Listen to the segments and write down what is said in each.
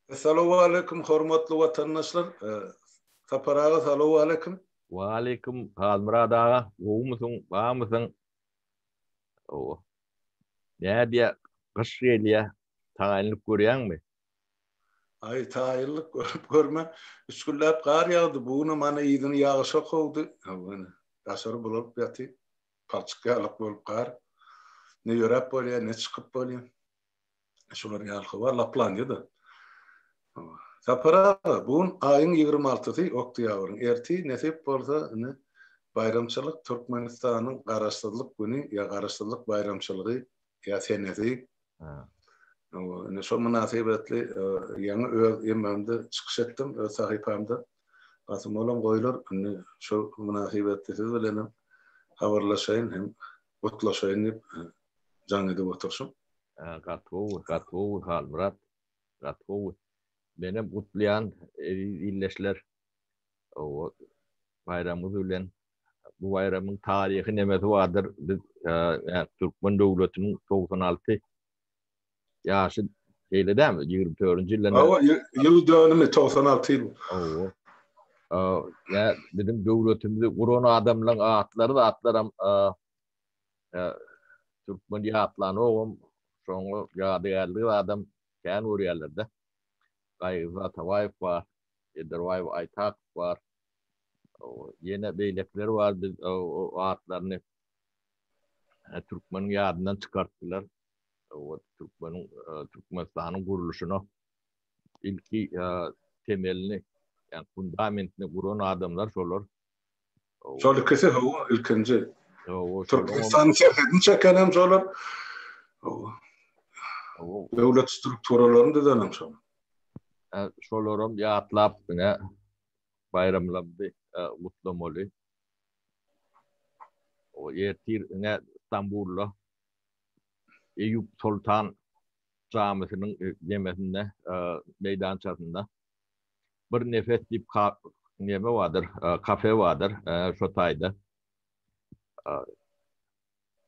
Salowaleýkim hormatly watandaşlar Sapar aga salowaleýkim. Waleýkim Halmyrat aga gowumysyň barmysyň hawa nädýä gyş gelýä taýynlyk görýäňmi. Aý taýynlyk görüp görme üç günläp gar ýagdy bu günem ana yzyny ýagyşa kowdy hawa ine daşary bulalyp ýaty. palçyk ýalyk bolup gar ne ýöräp bolýar, ne çykyp bolýar. Şular ýaly habar laplanýa-da. Sapar aga, bu gün aýyň ýigrimi altysy, oktýabryň. Ertir, nesip bolsa, ine, baýramçylyk, Türkmenistanyň Garaşsyzlyk güni ýa Garaşsyzlyk baýramçylygy ýa senesi. Indi şol mynasybetli ýaňy öz emmamda çykyş etdim, öz sahypamda. Basym olam goýlar, indi şol mynasybetli siz bilenem habarlaşaýyn hem gutlaşaýyn diýip jaň edip oturşym. Gaty gowy, gaty gowy Halmyrat, gaty gowy. Menem gutlaýan eziz ildeşler. Owo, baýramyňyz bilen bu baýramyň taryhy nemesi bardyr. Biz türkmen döwletiniň 96 ýaşy şeýle dämi? 24-nji ýylda. Hawa, ýyl dönümi 96 ýyl. Hawa. Ýa biziň döwletimizi guran adamlaryň atlary zatlaram türkmen ýatlanogam, şoňa ýadygärligi adam kän görýärler-de. Gaýgy Atabaýew bar, Ederbaýew Aýtakow bar. Ýene beýlekiler bar, biz o atlaryny türkmeniň ýadyndan çykartdylar. O türkmeniň Türkmenistanyň gurluşyna ilki temelini, ýa fundamentini guran adamlar şolar. Şol ikisi hawa ilkinji. Türkmenistanyň serhedini çeken hem şolar. Döwlet strukturalaryny düzen hem şolar. Şolaram ýatlap diňe baýramlarymyzy gutlamaly. Ertir ine Stambulda Eýýup Soltan jamysynyň nemesinde, meýdançasynda Bir Nefes diýip neme bardyr, kafe bardyr, şo taýda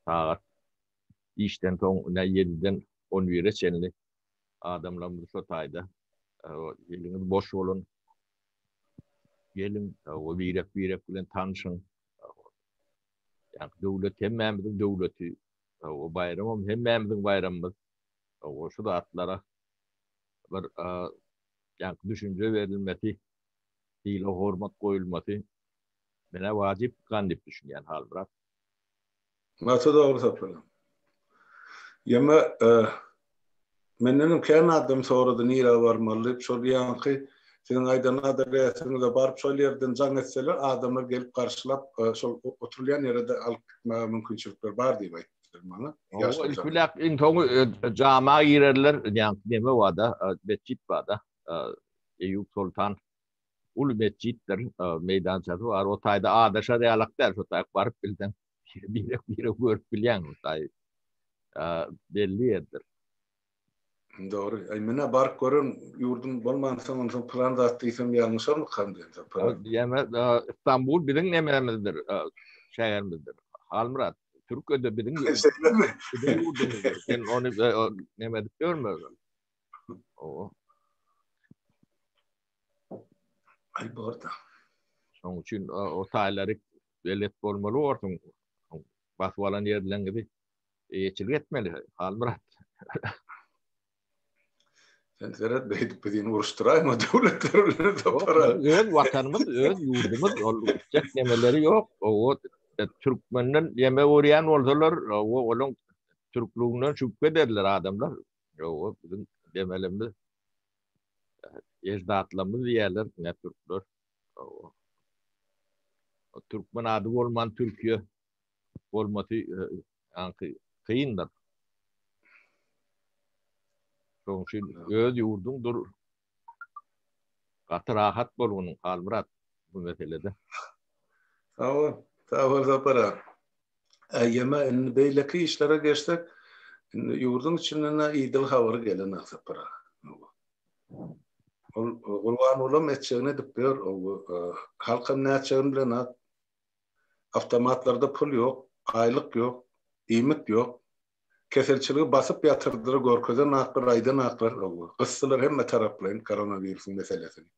sagat işden soň ine ýediden on bire çenli adamlarymyzy şu taýda eliňiz boş bolun. Gelin o birek birek bilen tanşyň. Yani döwlet hemmämiziň döwleti. O bayramym hemmämiziň bayramymyz. O şu zatlara bir yani düşünce verilmesi, hile hormat koyulması mene vacip kan dip düşünýän hal bırak. Gaty dogry saplanan. Ýeme mendenem kän adam sorady nirä barmaly diýip şol ýaňky siziň aýdan adresiňize baryp şol ýerden jaň etseler adamlar gelip garşylap şol oturylýan ýerede alyp gitmäge mümkinçilikler bar diýip aýtdy maňa. Ýaş Ilki biläp iň soňy jama girerler ýaňky neme barda, metjit barda, Eýýup Soltan uly metjitdir, meýdançasy bar. O taýda adaşar ýalak däl, şo taýy baryp bilseň, birek-birek görüp bilýäň o taýy. Belli ýerdir. Dogry. Aý, menä baryp gören ýurdum bolmansoň, onda soň pylan zat diýsem ýalňyşarmykam diýen söhbet. Diýeme, Stambul biziň nämemizdir, şäherimizdir. Halmyrat, Türkiýede biziň ýurdumyzdyr. Sen ony neme edip ýörme. Alberta. Şoň üçin o taýlary belet bolmaly borsuň. Basyp alan ýerleňizi eýeçilik etmeli. Halmyrat. Sen seret beýdip biziň uruşdyraýma döwletler bilen tapara. Öz watanymyz, öz ýurdumyz, ol ýetjek nemeleri ýok. O e, türkmenden ýeme görýän bolsalar, o olaň türklüginden şübhe ederler adamlar. Ýoga biziň demelimiz eždatlarymyz diýerler ne türkler. Ýoga. O türkmen ady bolman Türkiýe bolmasy e, ýanky kyndyr. Şoň üçin öz ýurduňdyr Gaty rahat bolgunyň Halmyrat bu meselede. Sag bol. Sag bol Sapar aga. Aýjama indi beýleki işlere geçsek, indi ýurduň içinden-ä idil habar gelen-ä Sapar aga. Ol Gurbangulam etjegini edip ýör. Halkam nätjegini bilenok. Awtomatlarda pul ýok, aýlyk ýok, iýmit ýok. Keselçiligi basyp ýatyrdyr, görkezen aklar, aýdan aklar, hawa, gysdylar hemme taraplaýyn koronawirusyň meselesini.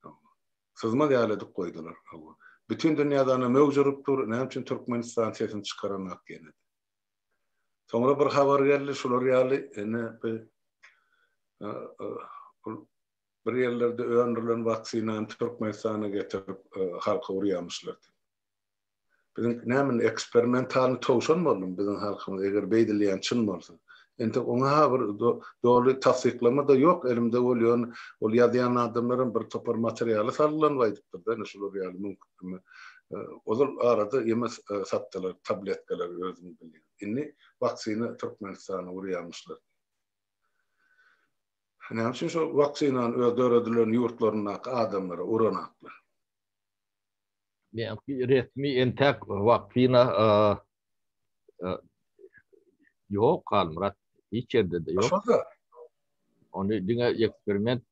Hawa. Syzmaz ýaly edip goýdular, hawa. Bütin dünýädana möwç urup dur, näme üçin Türkmenistan sesini çykaranak ýene-de. Soňra bir habar geldi, şular ýaly ene bir ol bir ýerlerde öndürilen waksinany Türkmenistana getirip halka urýamyşlar diýip. Biziň näme eksperimentalny towşan boldum biziň halkymyz eger beýdilýän çyn bolsa. Entek oňa ha bir doly tassyklama da ýok elimde bolýan ol ýazýan adamlaram bir topar materialy salgylanyp aýdypdyr da ine şular ýaly mümkin ozal arada ýeme satdylar tabletkalary özüň bilýän indi waksina türkmenistany urýamyşlar. Näme üçin şo waksinany öz döredilen ýurtlaryndaky adamlara uranaklar. Meňki resmi entek waksina ýok Halmyrat. Hiç ýerde-de ýok. Ony diňe eksperiment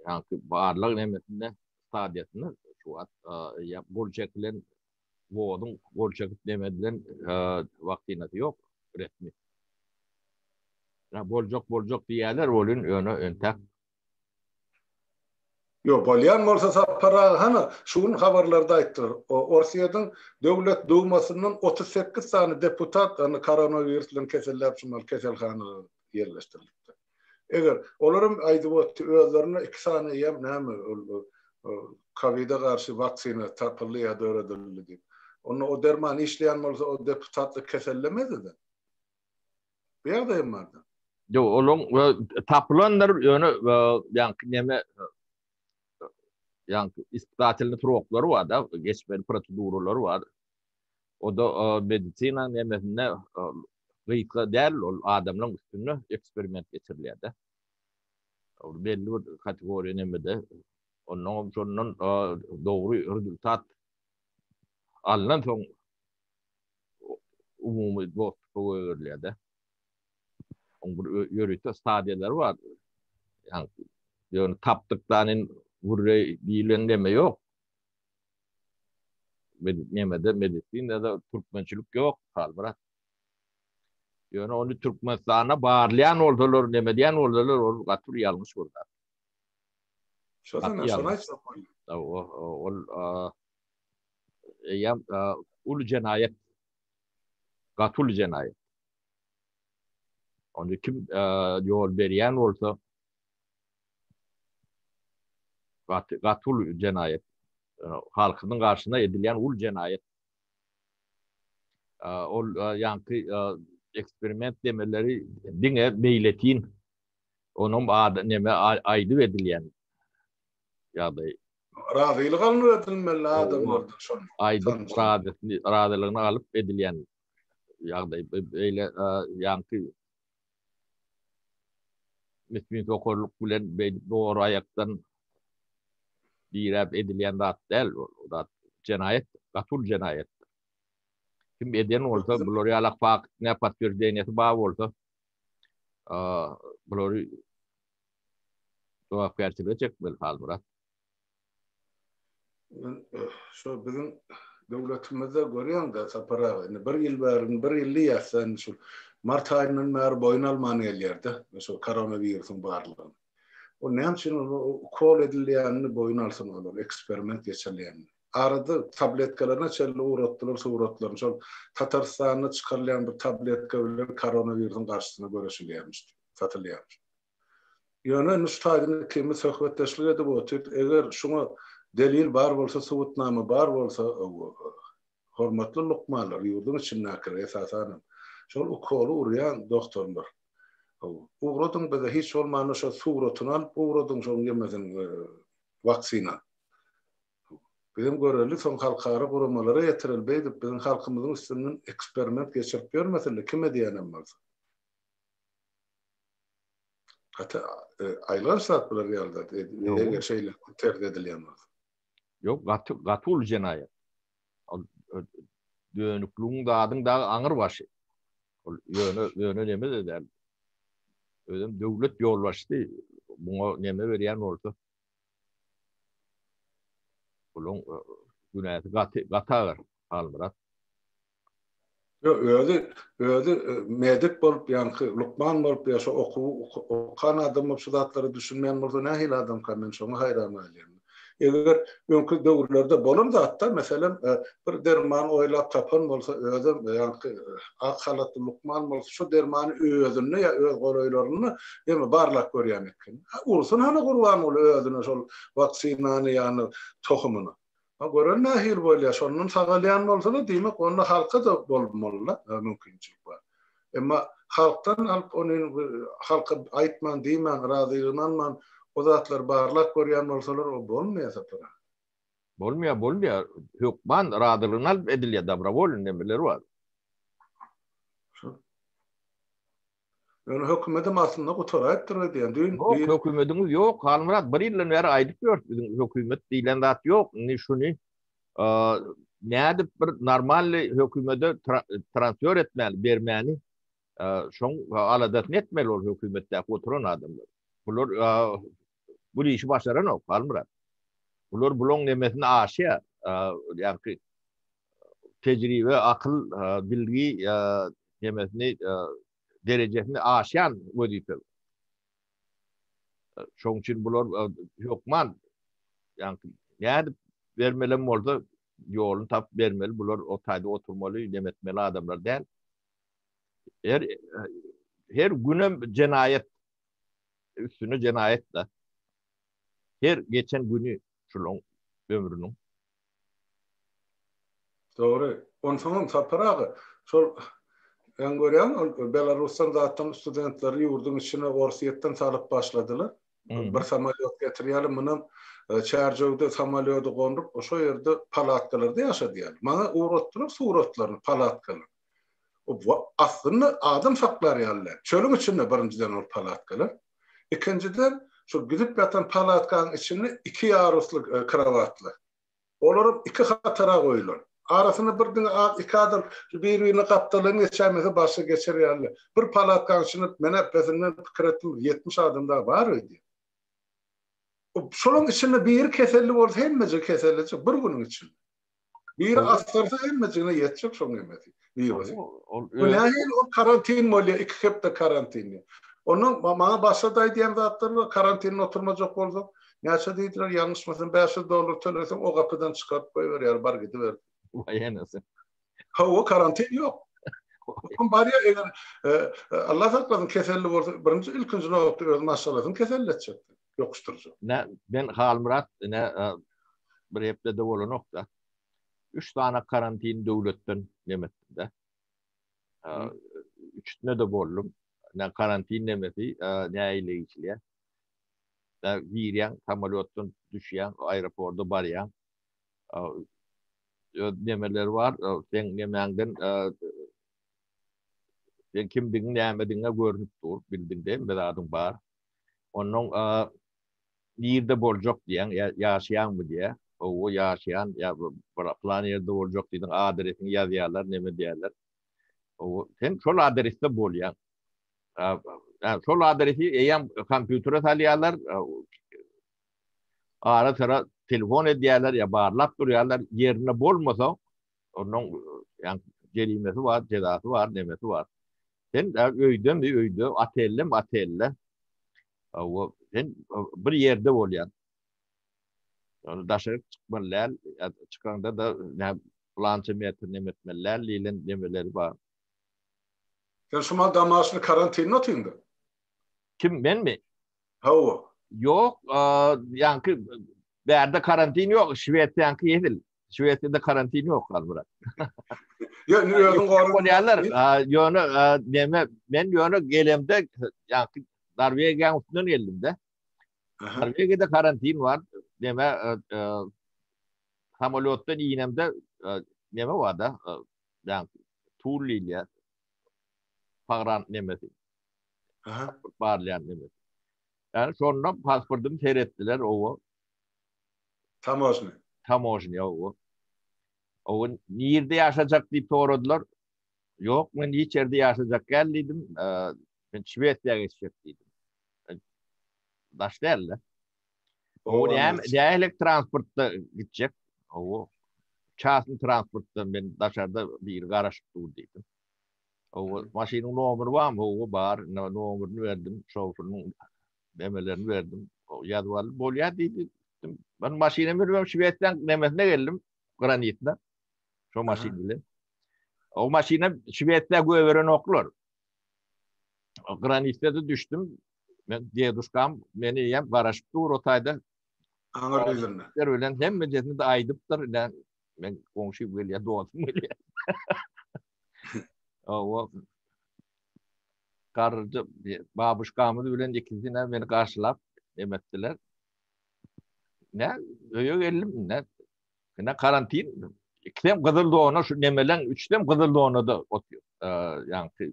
ýa-da barlag nemesinde stadiýasynda şu wagt ýa gol çekilen woduň gol çekip neme edilen waksinasy ýok resmi. Boljak boljak diýýärler welin ýöne entek Ýok, bolýan bolsa Sapar aga, hany, şu gün habarlarda aýtdylar, Orsýetiň Döwlet Dumasyndan otuz sekiz sany deputat hany koronawirus bilen keselläp şumal keselhanada ýerleşdirilipdir. Eger, olar hem aýdyp otdy, özlerinde iki sany eýýäm näme ol kowida garşy waksina tapyldy ýa döredildi diýip. Onda o derman işleýän bolsa o deputatlyk kesellemezdi-de. Bu ýagdaý hem bar. Ýok, olaň tapylandyr, ýöne ýaňky näme ýaňky ispitatelny troklary bar da, geçmeli proseduralary bar. O da medisina nämesinde gysga däl, ol adamlaryň üstünde eksperiment geçirilýär da. Ol belli bir kategoriýa nämede. Ondan hem şondan dogry rezultat alnan soň umumy dostupy goýberilýär-de. Oň bir ýörite stadiýalary bar. Ýagny, ýöne tapdykdan in gürreý diýilen neme ýok. Nemede, medisinada türkmençilik ýok, Halmyrat. Ýöne ony Türkmenistanda barlaýan bolsalar, neme diýen bolsalar, ol gaty bir ýalňyş bir zat. Şo sanda şony aýtsak bolýar. Ol eýýäm uly jenaýat, gaty uly jenaýat. Onda kim ýol berýän bolsa, gaty gaty uly jenaýat. Halkynyň garşyna edilýän uly jenaýat. Ol ýaňky eksperiment demeleri diňe meýletin, onuň neme aýdyp edilýän ýagdaýy. Razylyk alnyp edilmeli adamlardan şol. Aýdyp razylygyny razylygyny alyp edilýän ýagdaý beýle ýaňky müsbit sokarlyk bilen beýdip dogry aýakdan diräp edilýän zat däl ol zat jenaýat gatul jenaýat kim eden bolsa bular ýalak fakt ne potwirdenýesi bar bolsa bulary jogapkärçilige çekmeli Halmyrat. Men şu biziň döwletimizde görýäňda Sapar aga indi bir ýyl bäri bir ýyl diýýäs-dä indi şu mart aýyndan bäri boýun alman gelýär-de şu koronawirusyň barlygyny. Ol näme üçin ukol edilýänini boýun alsyn olar eksperiment geçirilýänini. Arada tabletkalaryna çenli ugratdylar suratlaryny şol Tatarystanda çykarylýan bir tabletka bilen koronawirusyň garşysyna göreşilýärmiş diýip. satylýar. Ýöne Nuştaýdyn ikimiz söhbetdeşlik edip otyr, eger şuňa delil bar bolsa, subutnama bar bolsa, hormatly lukmanlar, ýurduň içindäkiler, esasanam, şol ukoly urýan dogtorlar, ugradyň bize, hiç bolmanda şo suratyny alyp ugradyň şoň ýemesin waksina. Bizem göreli, soň halkara guramalara ýetireli, beýdip biziň halkymyzyň üstünden eksperiment geçirip ýörmesinler, kime diýenem bolsa. Hatta aylar satmalar geldi. Eger şeyle tercih edilýän bolsa. Yok gaty gaty uly jenaýat. Dönükligiň zadyň dagy aňyr başy. Ol ýöne ýöne neme de däl. Özem döwlet ýolbaşçysy muňa neme berýän bolsa. Olaň günäsi gaty gaty agyr Halmyrat. Ýok, özi, özi medik bolup, ýaňky lukman bolup, ýa şo okuwy okan adam bolup, şu zatlara düşünmeýän bolsa nähili adamka, men şoňa haýran galýan. Eger öňki döwürlerde bolan zatda, meselem, bir derman oýlap tapan bolsa, özem ýaňky ak halatly lukman bolsa, şo dermany özünde ýa öz golaýlarynda ýene barlap görýän ekeni. Ursun hany Gurbanguly özüne şol waksinany ýa-da tohumyny. A gören nähili bolýar, şondan sagalýan bolsa-da, diýmek, onda halka-da bolmaly-la mümkinçilik bar. Emma halkdan alyp, ony halka aýtman, diýmän, razylygyny alman, o zatlary barlap görýän bolsalar, o bolmaýar sapar-a. Bolmaýar, bolmaýar. Hökman razylygyny alyp edilýär, dobrowolny nemeler bar. Şol. Ýöne hökümedim aslynda gutaraýypdyr we diýen düýn bir. Ýok, hökümediňiz ýok, Halmyrat, bir ýyldan bäri aýdyp ýörüs, biziň hökümet diýlen zat ýok, indi şuny nädip bir normalny hökümede transfer etmäli, bermäni, şoň aladasyny etmeli ol hökümetdäki oturan adamlar. Bular bul işi başaranok Halmyrat. Bular bulaň nemesini aşýar. Ýagşy tejribe, akyl, bilgi nemesini derejesini aşýan wezipe. Şoň üçin bular hökman ýagşy nädip bermelem bolsa ýoluny tapyp bermeli. Bular o taýda oturmaly, neme etmeli adamlar däl. Her her günem jenaýat. üstüne jenaýat da. Her geçen güni şulaň ömrüniň. Dogry. Onsoňam Sapar aga, şol Sen görýäň, ol Belarusdan zatdan studentleri ýurduň içine Orsýetden salyp başladylar. Bir samolýot getirýärler, munam Çärjewde samolýody gonduryp, şo ýerde palatkalarda ýaşadýarlar. Maňa ugratdylar suratlaryny, palatkalar. Aslynda adam saklar ýaly däl. Çölüň içinde birinjiden ol palatkalar. Ikinjiden, şu gidip ýatan palatkanyň içinde iki ýarusly krowatlar. Olaram iki hatara goýulan. Arasynda bir diňe az iki adam bir-birine gapdaldan geçäýmese barsa geçer ýaly. Bir palatkanyň içinde men epesinden pikir etdim, bir ýetmiş adam dagy bar öýdýän. Şolaryň içinde biri keselli bolsa hemmeje kesellejek bir günüň içinde. Biri astarsa hemmejigine ýetjek şoň hemmesi. Wirus. Bu nähili ol karantin bolýa, iki hepde karantin. Onda maňa başga da aýdýan zatlar bar, karantinde oturmajak bolsa, näçe diýdiler, ýalňyşmasam bäş ýüz dollar töleseň o gapydan çykaryp goýberýär, bar gidiber. Waý enesi. Hawa karantin ýok. Kim barýa eger Allah saklasyn keselli bolsa, birinji ilkinji nobatda öz maşgalasyny keselletjekdir. ýokuşdyryjy. Ine, men Halmyrat, ine, bir hepde-de bolanok-da, üç sany karantin döwletden neme etdim-de. Üçüsine-de boldum. Ine, karantin nemesi nähili geçilýär? Girýäň, samolýotdan düşýäň, aeroporda barýaň. Öz nemeleri bar, seň nemäňden, seň kimdigiň, nämedigiň görnüp dur, bildiňdä, hemme zadyň bar. Onnoň nirde boljak diýýän, ýa ýaşaýaňmy diýýär. Howwa ýaşaýan, ýa bir plan ýerde boljak diýdiň, adresiňi ýazýarlar, neme diýýärler. Howwa, sen şol adresde bolýaň. Ýa şol adresi eýýäm kompýutere salýarlar, ara-syra telefon edýärler ýa barlap durýarlar, ýerinde bolmasaň, Onuň ýan jerimesi bar, jezasy bar, nemesi bar. Sen däl öýden bir öýde, otelden otelde. Awa, sen bir ýerde bolýan. Ýöne daşary çykmaly däl, çykanda da nä plança metr neme etmeli däl diýlen nemeleri bar. Sen şu mahaly damaşly karantinde otyňda? Kim, menmi? Hawa. Ýok, ýaňky bärde karantin ýok, Şwesiýaňky edil. Şwesiýada karantin ýok gal bura. Ýok, nä ýöne gorun. Bolýarlar. Ýöne näme, men ýöne gelemde, ýa-da Norwegiýa üstünden geldimde. Norwegiýada karantin bar. Näme, samolýotdan inemde näme bar-da? Ýa-da Tullilýa. Pagran nemesi. Aha, barlaýan nemesi. Yani şonda pasportym seretdiler owo. Tamožnýa. Tamožnýa, owo. Owo, nirde ýaşajak diýip soradylar. Ýok, men hiç ýerde ýaşajak gäl diýdim. Men Şwesiýa geçjek diýdim. Daş däl-de. Owo, näme, nähili transportda gitjek? Owo, çasny transportda, men daşarda biri garaşyp dur diýdim. Owo, maşynyň nomeri barmy? Owo, bar. Indi nomerini berdim. Şoferiň Memelerini berdim. Ýazyp aldy. Bolýar diýdi. Ben maşyna münüp Şwesiýanyň nemesine geldim. Granitine. Şo maşyn bilen. O maşyna Şwesiýa göberen oklar. Granitde de düşdüm. Men deduşkam meni ýem garaşyp dur o taýda. Aňar düzünde. Der bilen hemme jesini de aýdypdyr. Men goňşy gelýär, dostum gelýär. O garryja babuşkamyz bilen ikisinem meni garşylap em etdiler. Ne, öýe geldim, ne, ne karantin, ikisem gyzyl dona, şu nemeleň üçsem gyzyl donada otyr. Ýaňky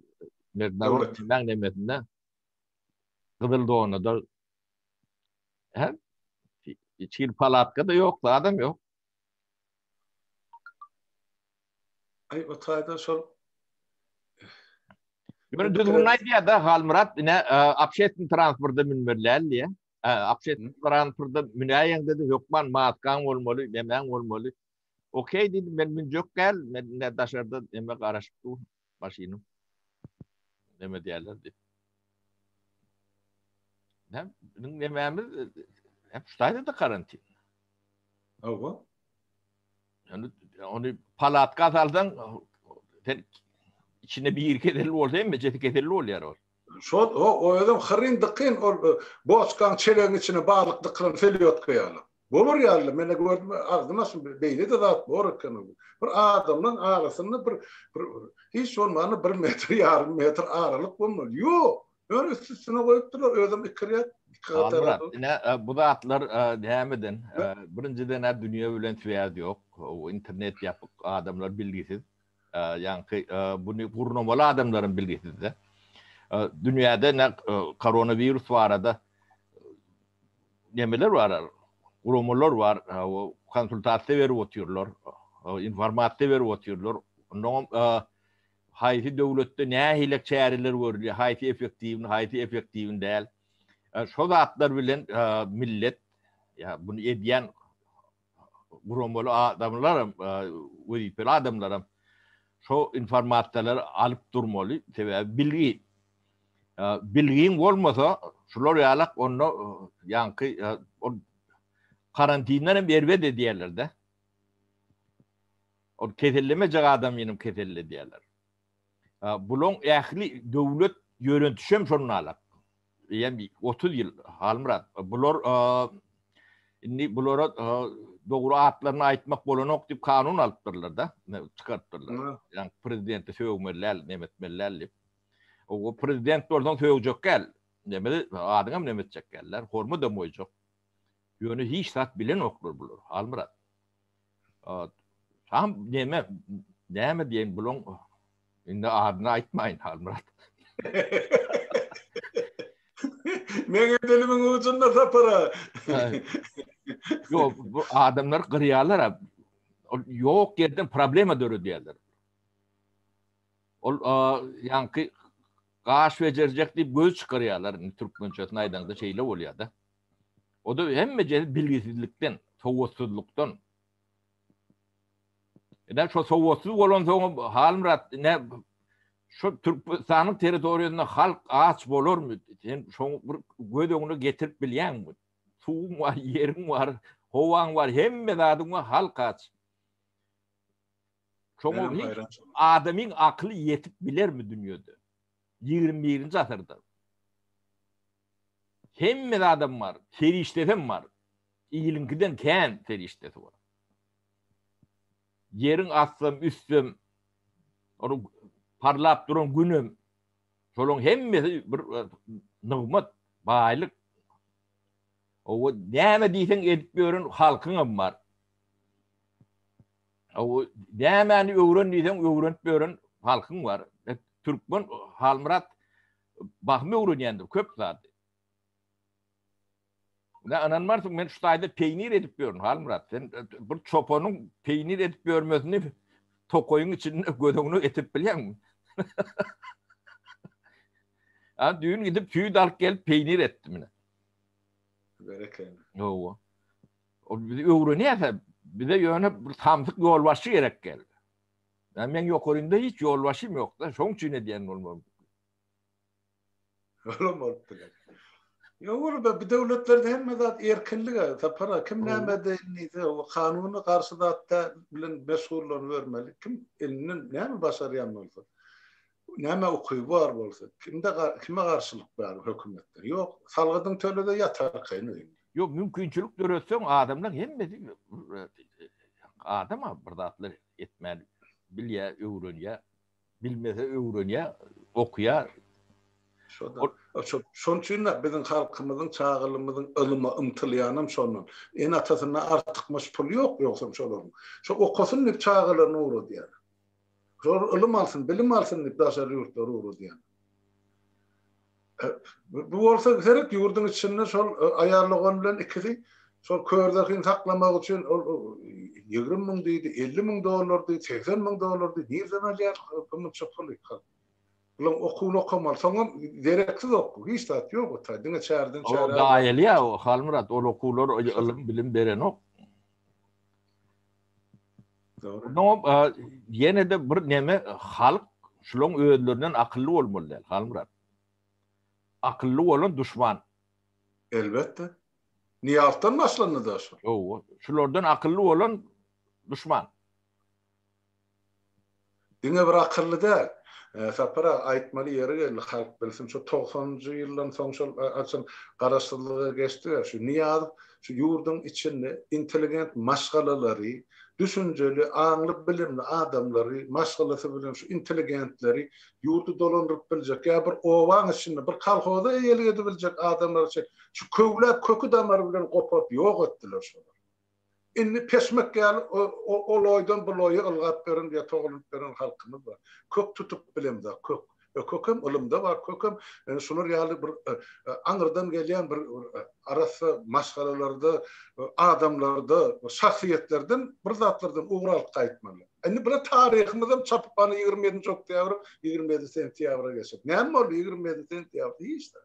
Merdinawatdan nemesinde gyzyl donada. He? Hiç kim palatka-da ýok, zadam ýok. Ay o tayda şol Ýöne düzgün aýdýar-da Halmyrat ine obşetni transportda münmeliäl diýe. Obşetni transportda münäýen dedi, hökman maskaň bolmaly, nemäň bolmaly. Okey diýdim, men münjek däl, men ine daşarda eme garaşyp dur. Maşynyň neme diýerler diýip. Näm, biziň nemämiz hep ştaýda karantin. Hawa. Yani onu palatka salsaň sen içine bir keselli bolsa hem jeti keselli bolýar ol. Şod o o özem hyryn dykyn ol boçkaň çelegiň içine balyk dykylan selýotka ýaly. Bolar ýaly menä gördüm agzym açym beýlede zat bor eken ol. Bir adamlaň arasynda bir bir hiç bolmanda bir metr ýarym metr aralyk bolmaly. Ýok. Ýöne üst üstüne goýupdyrlar özem iki rýad iki gatara. Ine bu zatlar nämeden birinjiden-ä dünýe bilen swýaz ýok. Internet ýapyk adamlar bilgisiz. Ýaňky buny gurnamaly adamlaryň bilgisizde. Dünýäde ne koronawirus barada nemeler bar? Guramalar bar. Konsultasiýa berip otyrlar. Informasiýa berip otyrlar. Ondan haýsy döwletde nähili çäreler görülýär, haýsy effektiwini, haýsy effektiwini däl. Şo zatlar bilen millet ýa buny edýän guramaly adamlaram, wezipeli adamlaram şo informasiýalary alyp durmaly. Sebäbi bilgi. Bilgiň bolmasa, şular ýalak onda ýaňky ol karantinden hem erbet edýärler-de. Ol kesellemejek adamyny hem keselledýärler. Bulaň ähli döwlet ýörentişem şondan alak. Eýem 30 ýyl Halmyrat. Bular indi bulara dogry atlaryny aýtmak bolanok diýip kanun alypdyrlar da, çykarypdyrlar. Ýa prezidenti sögmeli däl, nemetmeli däl diýip. O prezident bolsaň sögjek däl. Nebeli adyňam nemetjek däl. Hormat hem goýjak. Ýöne hiç zat bilenoklar bular, Halmyrat. Tam näme, näme diýen bulaň indi adyny aýtmaýyn Halmyrat. Meňe dilimiň ucunda sapara. Ýok, bu adamlar gyrýarlar. Ol ýok ýerden problema döredýärler. Ol ýaňky gaş bejerjek diýip göz çykarýarlar. Türkmençesini aýdaňda şeýle bolýar-da. O-da hemme jedi bilgisizlikden, sowatsyzlykdan. Eden şo sowatsyz bolan soň Halmyrat ne şu Türkmenistanyň territoriýasynda halk aç bolarmy? Sen şoň bir göz öňüne getirip bilýäňmi? Suwuň bar, ýeriň bar, howaň bar, hemme zadyň bar, halk aç. Şoňa adamyň akyly ýetip bilermi dünýede? 21-nji asyrda. Hemme zadam bar, serişdesem bar. Iliňkiden kän serişdesi bar. Ýeriň astam, üstem, onuň parlap duran günem, şolaryň hemmesi bir nygmat, baýlyk. Oba näme diýseň edip ýören halkyňam bar. Oba nämäni öwren diýseň öwrenip ýören halkyň bar. Türkmen Halmyrat Bahym öwrenýändir köp zady. Ine ynanmarsyň men şu taýda peýnir edip ýörün Halmyrat sen e, bir çopanyň peýnir edip ýörmesini tokaýyň içinde göz öňüne getirip bilýäňmi? Ha düýn gidip süýt alyp gelip peýnir etdim ine. Berekella. Ýowa. O bizi öwrenýärse bize ýöne bir samsyk ýolbaşçy gerek geldi. Ya men yokarynda hiç yol başım yok da, şoň üçin edýän bolmaly. Olam bolup biler. Yok ola be, bu döwletlerde hemme zat erkinlik aga, tapara kim näme diýse, o kanuny garşy zatda bilen meşgullanyp örmeli. Kim elinden näme başarýan bolsa. Näme ukyby bar bolsa, kimde kime garşylyk bar hökümetde? Ýok, salgydyňy tölede ýatarkaýyn öýünde. Ýok, mümkinçilik döretseň adamlar hemmesi adam-a bir zatlar etmän bilýä, öwrenýä, bilmese öwrenýä, okýa. Şo-da. Şonuň üçin-de biziň halkymyzyň, çagalymyzyň ylyma ymtylýanam şondan. Ene-atasyndan artykmaç puly ýok ýogsam şolaryň. Şo okasyn diýip çagalaryny ugradýarlar. Şolar ylym alsyn, bilim alsyn diýip daşary ýurtlara ugradýan. Bu bolsa seret ýurduň içinde şol aýallagon bilen ikisi şol körderhini saklamak üçin ol ýigrimi müň diýdi, elli müň dollar diýdi, segsen müň dollar diýdi. Nireden alýar bu munça puly? Bulan okuwyny okamaly. Soňam dereksiz okuw, hiç zat ýok ota. Diňe çärden çäre. Gaýylýar Halmyrat, ol okuwlar ylym, bilim berenok. Ýene-de bir neme, halk şulaň özlerinden akylly bolmaly däl, Halmyrat. Akylly bolan duşman. Elbetde. Nyýazdan başlandy-da şu. Ýowa, şulardan akylly bolan duşman. Diňe bir akylly däl. Sapar aga aýtmaly ýeri geldi halk bilsin şu togsanynjy ýyldan soň şol açan garaşsyzlyga geçdiga şu Nyýazow şu ýurduň içinde intelligent maşgalalary düşünjeli aňly bilimli adamlary maşgalasy bilen şu intelligentleri ýurdy dolandyryp biljek ýa bir obaň içinde bir kolhoza eýelik edibiljek adamlary çek şu köwläp köki damary bilen goparyp ýok etdiler şolary. Indi peşmek ýaly o loýdan bu loýa ylgap ýören ýa togalanyp ýören halkymyz bar. Kök tutup bilemzok, kök. E kökem ylymda bar, kökem şular ýaly bir aňyrdan gelýän bir arassa maşgalalarda, adamlarda, şahsyýetlerden bir zatlardan ugur alyp gaýtmaly. Indi bula taryhymyzam çapyp ana ýigrimi ýedinji oktýabr, ýigrimi ýedi sentýabra geçip. Näme boldy ýigrimi ýedi sentýabr? Hiç zat.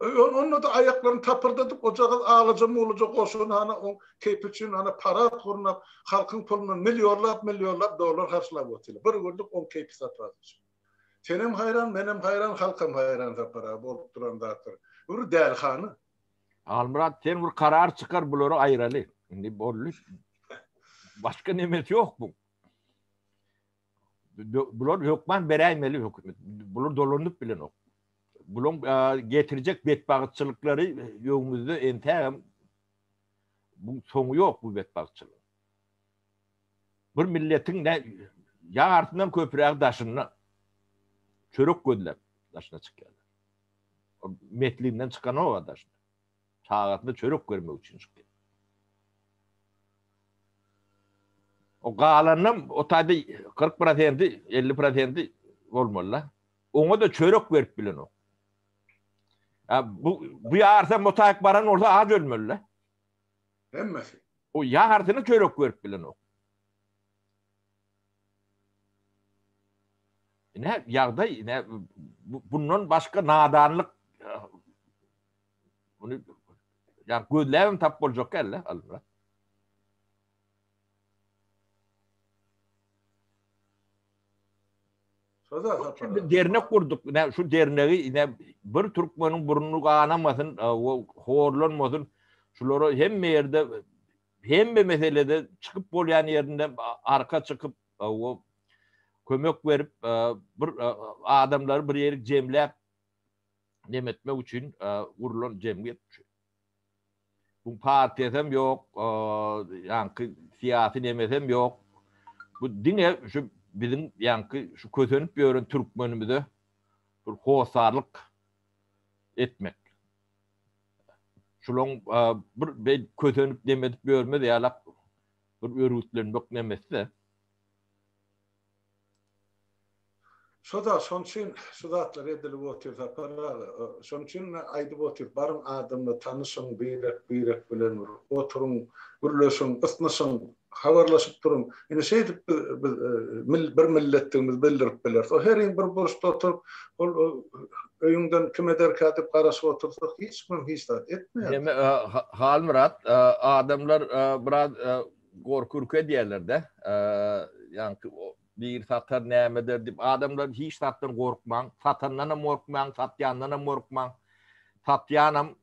Onda-da aýaklaryny tapyrdadyp, ojagaz alaja-mulaja goşun hana oň keýpi üçin hana parad gurnap, halkyň pulundan millionlap-millionlap dollar harçlap otyrlar. Bir günlük oň keýpi-sapasy üçin. Senem haýran, menem haýran, halkam haýran Sapar aga, bolup duran zatlar. Bir dälihana. Halmyrat, sen bir karar çykar, bulary aýraly. Indi boldy. Başga nemesi ýok buň. Bular hökman beräýmeli hökümet. Bular dolanyp bilenok. Bulaň getirjek betbagtçylyklary öňümizde entägem bu soňy ýok bu betbagtçylyk. Bir milletiň ne ýartyndan köpräk daşynda çörek gözläp daşyna çykýarlar. Metlinden çykanok daşyna. çagasyna çörek bermek üçin çykdy. O galanynam o taýda 40 prosenti, 50 prosenti bolmaly-da. Oňa-da çörek berip bilenok. Ha, bu, bu ýarsa mutaýyk baran bolsa aç ölmeli-da. Hemmesi. O ýarsyny çörek berip bilenok. Ne ýagdaý, ne bundan başga nadanlyk Muny ýa gözläbem tap boljak däldi Halmyrat. Şurada dernek gurduk. Ne şu dernegi ne bir türkmeniň burnu ganamasyn, o horlanmasyn. Şulara hemme ýerde hemme meselede çykyp bolýan ýerinde arka çykyp, o kömek berip, bir adamlary bir ýerik jemläp nemetmek üçin gurulan jemgyýet bu şu. Bu partiýasam ýok, ýaňky syýasy nemesem ýok. Bu diňe şu biziň ýaňky şu kösenip ýören türkmenimize bir hossarlyk etmek. Şulaň bir be kösenip nemetip ýörmez ýalak bir örgütlenmek nemesi-de. Şo-da, şonuň üçin şu zatlar edilip otyr, Sapar aga. Şonuň üçin men aýdyp otyr, baryň adamlar tanyşyň, birek-birek bilen bir oturyň, gürleşiň, ysnyşyň, habarlaşyp duruň. Ine, şeýdip biz, biz bir milletdigimizi bildirip bileris. O heriň bir burçda oturyp, ol öýüňden kim ederkä diýip garaşyp otursa, hiç kim hiç zat etmeýär. Halmyrat, adamlar biraz Gorky ürke diýerler-de. Ýaňky bir satar näme eder diýip, adamlar hiç zatdan gorkmaň. Satandan hem gorkmaň, satýandan hem gorkmaň. Satýanam,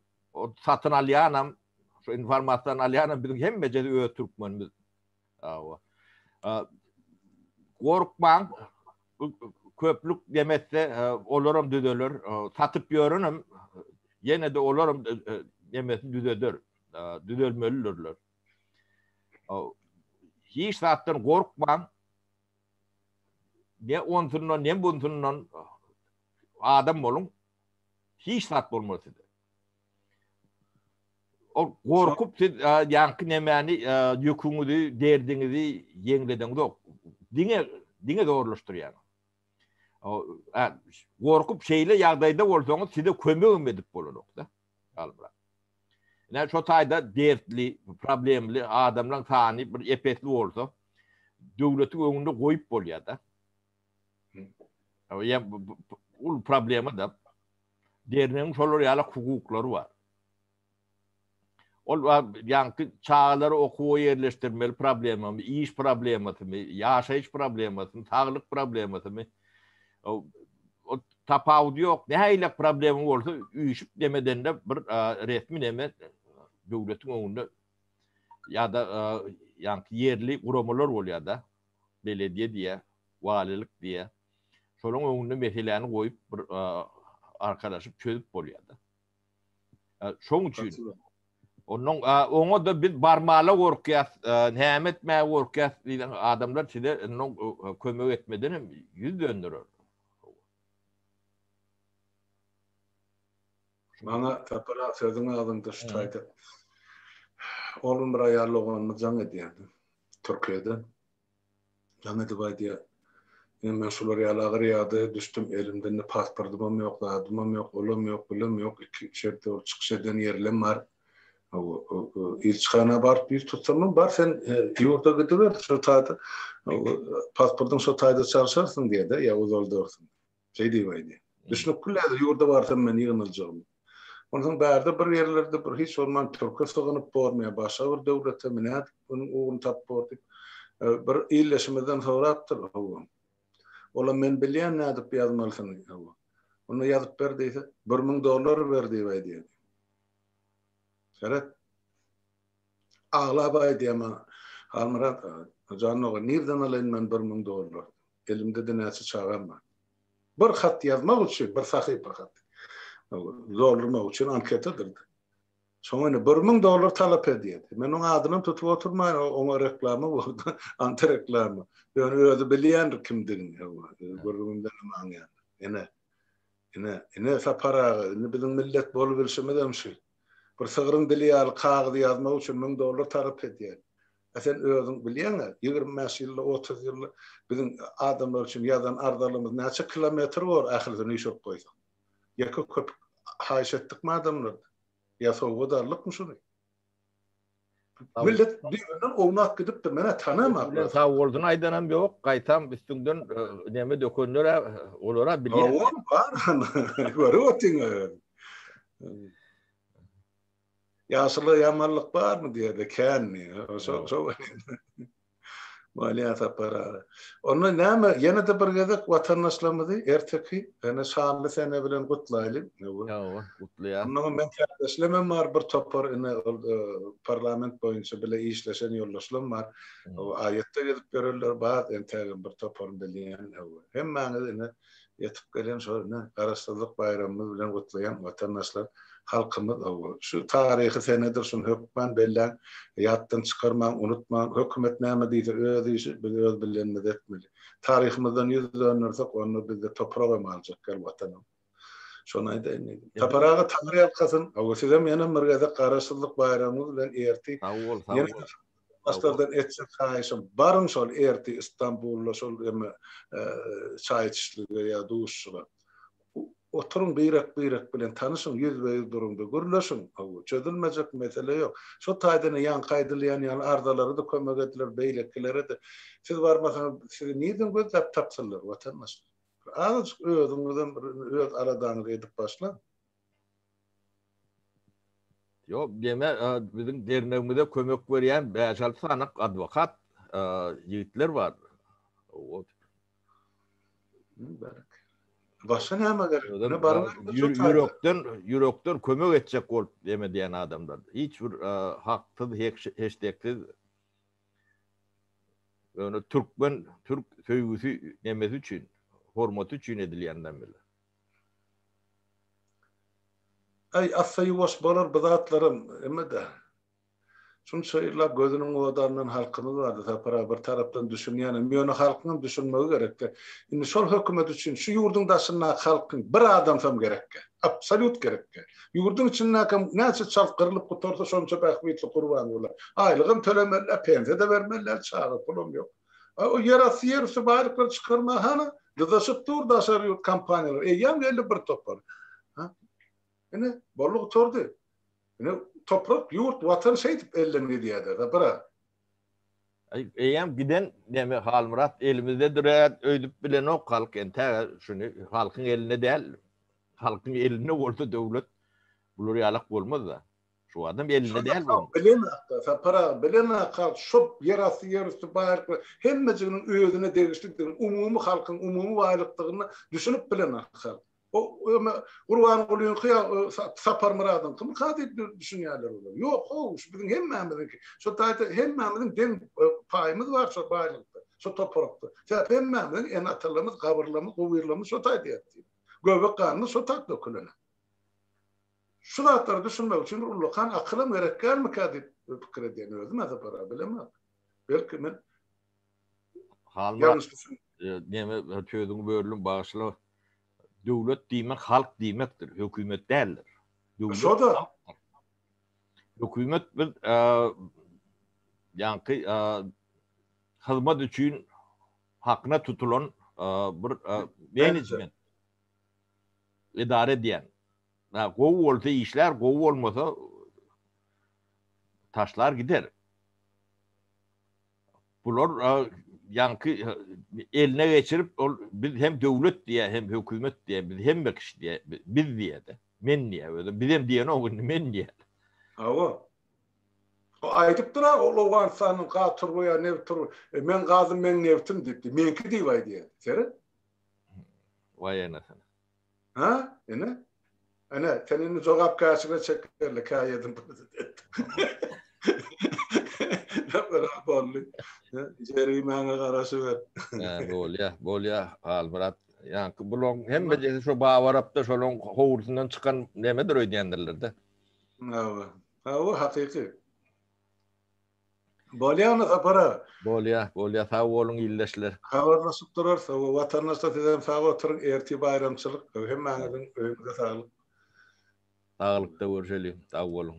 satyn alýanam, şu informasiýany alýanam biziň hemmejesi öz türkmenimiz. Hawa. Gorkmaň. Köplük demese, olaram düzeler. Satyp ýörenem ýene-de olaram demesini düzeder. Düzelmelidirler. Hiç zatdan gorkmaň. Ne onsundan, ne bunsundan adam boluň. Hiç zat bolmaz size. O gorkup siz ýaňky nemäni ýüküňizi, derdiňizi ýeňlediňiz ok. Diňe diňe zorlaşdyrýar. Gorkup şeýle ýagdaýda bolsaňyz size kömegim edip bolanokda. Galybra. Ine şo taýda dertli, problemli adamlaryň sany bir epesli bolsa, döwletiň öňünde goýup bolýar-da. Ýa ol problema da dernegiň şolar ýaly hukuklary bar. Ol ýaňky çagalary okuwa ýerleşdirmeli problemamy, iş problemasymy, ýaşaýyş problemasymy, saglyk problemasymy, o tapawudy ýok. Nähili problema bolsa üýşüp demedende bir resmi neme döwletiň öňünde ýa-da ýa-da ýerli guramalar bolýar-da. Belediýe diýe, walilik diýe. Şolaryň öňünde meseläni goýup bir arkalaşyp çözüp bolýar-da. Şoň üçin onuň oňa da biz barmala gorkýas, näme etmäge gorkýas diýen adamlar size onuň kömek etmeden hem ýüz dönderer. Maňa tapara sözüň agzynda şu taýda. Oglum bir aýal doganymyz jaň edýärdi. Türkiýede. Jaň edip aýdýar. Ine men şular ýaly agyr ýagdaýa düşdüm, elimde-ne pasportymam ýok, zadymam ýok, olam ýok, bulam ýok, iki şertde ol çykyş eden ýerlem bar. Ilçihana baryp ýüz tutsamam, bar sen ýurda gidiber, şo taýda pasportyň şo taýda çalşarsyň diýýär-de, ýa uzaldyrsyň. Şeý diýip aýdy. Düşnükli ledir, ýurda barsam men ýygnajagym. Onsoň bärde bir ýerlerde bir hiç bolman türke sygynyp bormy ýa başga bir döwlete mi nädip munuň ugruny tapyp bor diýip, bir ildeşimizden sorapdyr, hawa. Olam men bilýän nädip ýazmalysyny, hawa. Onda ýazyp ber diýse, bir müň dollar ber diýip aýdýar. Seret. Aglap aýdýama, Halmyrat aga, janyňa nirden alaýyn men bir müň dollar? Elimde-de näçe çagam bar. Bir hat ýazmak üçin, bir sahypa hat doldurmak üçin anketadyr. Şoňa indi bir müň dollar talap edýär. Men onuň adynam tutup oturmaýyn, oňa reklama boldy, antireklama. Ýöne özi bilýändir kimdigini, hawa, gürrüňimden hem aňýandyr. Ine, ine, ine Sapar aga, indi biziň millet bolubilşimizem şu. Bir sygryň dili ýaly kagyzy ýazmak üçin müň dollar tarap edýän. A sen özüň bilýäň-ä, ýigrimi bäş ýylda, otuz ýylda biziň adamlar üçin ýazan arzalymyz näçe kilometr bor ahyrysy nüşek goýsaň. Ýeke köpük haýyş etdikmi adamlardan? Ýa sowgat aldykmy şuny? Millet birinden ownap gidipdir, menä tanamap. Sag bolsun aýdanam ýok, gaýtam üstüňden e, näme dökenler e, olara bilýär. Olar bar. Görüp otyň. Ýaşyla ýamanlyk barmy diýerde kän. Şo şo. Maliýe sapary aga. Onda näme, ýene-de bir gezek watandaşlarymyzy erteki ene şanly sene bilen gutlaýly. Hawa, gutlaýas. Onda hem meň kärdeşlerimem bar, bir topar ine ol parlament boýunça bile işleşen ýoldaşlarym bar. Aýatda gezip ýörerler, bar entägem bir toparyny bilýän. Hemmäňizi ine ýetip gelen şol ine Garaşsyzlyk baýramymyz bilen gutlaýan watandaşlar halkymyz owo şu taryhy senedir şuny hökman belläň ýatdan çykarmaň unutmaň hökümet näme diýse öz işi biz öz bilenimizi etmeli taryhymyzdan ýüz döndersek onda bizde toprak hem galjak gel watanam şony aýdaýyn diýdim Sapar aga taňry ýalkasyn owo sizem ýenem bir gezek Garaşsyzlyk baýramyňyz bilen erti sag bol sag bol Başlardan etjek haýyşym, baryň şol ertir Istanbulda şol emme çaý içişlige ýa duşuşyga. Oturyň birek-birek bilen tanyşyň, ýüzbe-ýüz duruň-da gürleşiň. Hawa, çözülmejek mesele ýok. Şo taýdan ýaňky aýdylýan ýaly arzalary-da kömek ediler, beýlekileri-de. Siz barmasaňyz, sizi nirden gözläp tapsynlar, watandaşlar? Azajyk özüňizem bir öz aladaňyzy edip başlaň. Ýok, gene biziň dernegimize kömek berýän bäş-alty sany adwokat ýigitler bar. Wot. Başga näme gerek? Ýöne baryň ýürekden, ýürekden kömek etjek bolup näme edýän adamlar. Hiç bir haksyz, heşdeksiz. Ýöne türkmen, türk söýgüsi nämesi üçin, hormaty üçin edilýän nämeler. Äý, assa ýuwaş bolar bu zatlaram, emme-de. Şunça ýyllap gözüniň odandan halkymyz bardy, Sapar aga, bir tarapdan düşünýänem, ýöne halkyňam düşünmegi gerek-dä. Indi şol hökümet üçin şu ýurduň daşyndaky halkyň bir adamsam gerekkä. Absolýut gerekkä. Ýurduň içindäkem näçe çalt gyrlyp gutarsa, şonça bähbitli Gurbanguly. Aýlygam tölemeli däl, pensiýa-da bermeli däl, çaga pulam ýok. A ol ýerasty ýerüsti baýlyklary çykarmaga hany dyzaşyp dur daşary ýurt kompaniýalary. Eýýäm geldi bir topar. Ha? Ine, boldy gutardy. Ine, toprak, ýurt, watan şeýdip elden gidýär-de, ha, bir-a. Eýýäm giden neme Halmyrat elimizdedir-ä öýdüp bilenok halk entä şuny halkyň elinde däl. Halkyň elinde bolsa döwlet bular ýalak bolmaz-da. Şu adam elinde däl bu. Bilen akda, Sapar aga, bilen akda, şop ýerasty, ýerüsti baýlyklar hemmejiginiň özüne degişlidigini, umumy halkyň umumy baýlykdygyna düşünip bilen akda. O öme Gurbangulynyňky ýa Saparmyradyňkymyka diýip düşünýärler olar. Ýok, how, şu biziň hemmämiziňki. Şu taýda hemmämiziň deň paýymyz bar şu baýlykda, şu toparakda. Sebäp hemmämiziň ene-atalarymyz, gabyrlarymyz, gowyrlarymyz şu taýda ýatdy. Göbek ganymyz şu taýda dökülen. Şu zatlara düşünmek üçin bir ullakan akylam gerekgärmikä diýip pikir edýän özüm ä sapara bilemok. Belki men Halmyrat neme sözüňi böldüm bagyşla. Döwlet diýmek halk diýmekdir, hökümet däldir. Döwlet halkdyr. Hökümet biz ýaňky hyzmat üçin hakyna tutulan bir menejment edara edýän Na gowy bolsa işlär gowy bolmasa taşlar gider. Bular ýaňky eline geçirip ol biz hem döwlet diýä hem hökümet diýä biz hem kişi diýä biz diýäde men diýä özi biz hem diýen o indi men diýä. Hawa. O aýdypdyr ha ol Owganystanyň gaz turba ýa neft turba e, men gazym men neftim diýipdi. Menki diýip aýdýa. Seret. Waýanasyna. Ha? Ene? Ene, sen indi jogapkärçilige çekerli, käýedim prezident. Ýapyra boldy. Jerimäňe garaşyber. Hä, bolýa, bolýa, Halmyrat. Ýaňky bulaň hemmejesi şo bawarapda şolaň howlusyndan çykan nemedir öýdýändirler-de. Hawa, hawa, hakyky. Bolýamy Sapar aga? Bolýa, bolýa. Sag boluň ildeşler. Habarlaşyp durarys. Hawa, watandaşlar siz hem sag oturyň. Ertir baýramçylyk. Hemmäňiziň öýüňize saglyk. Saglykda görşeliň. Sag boluň.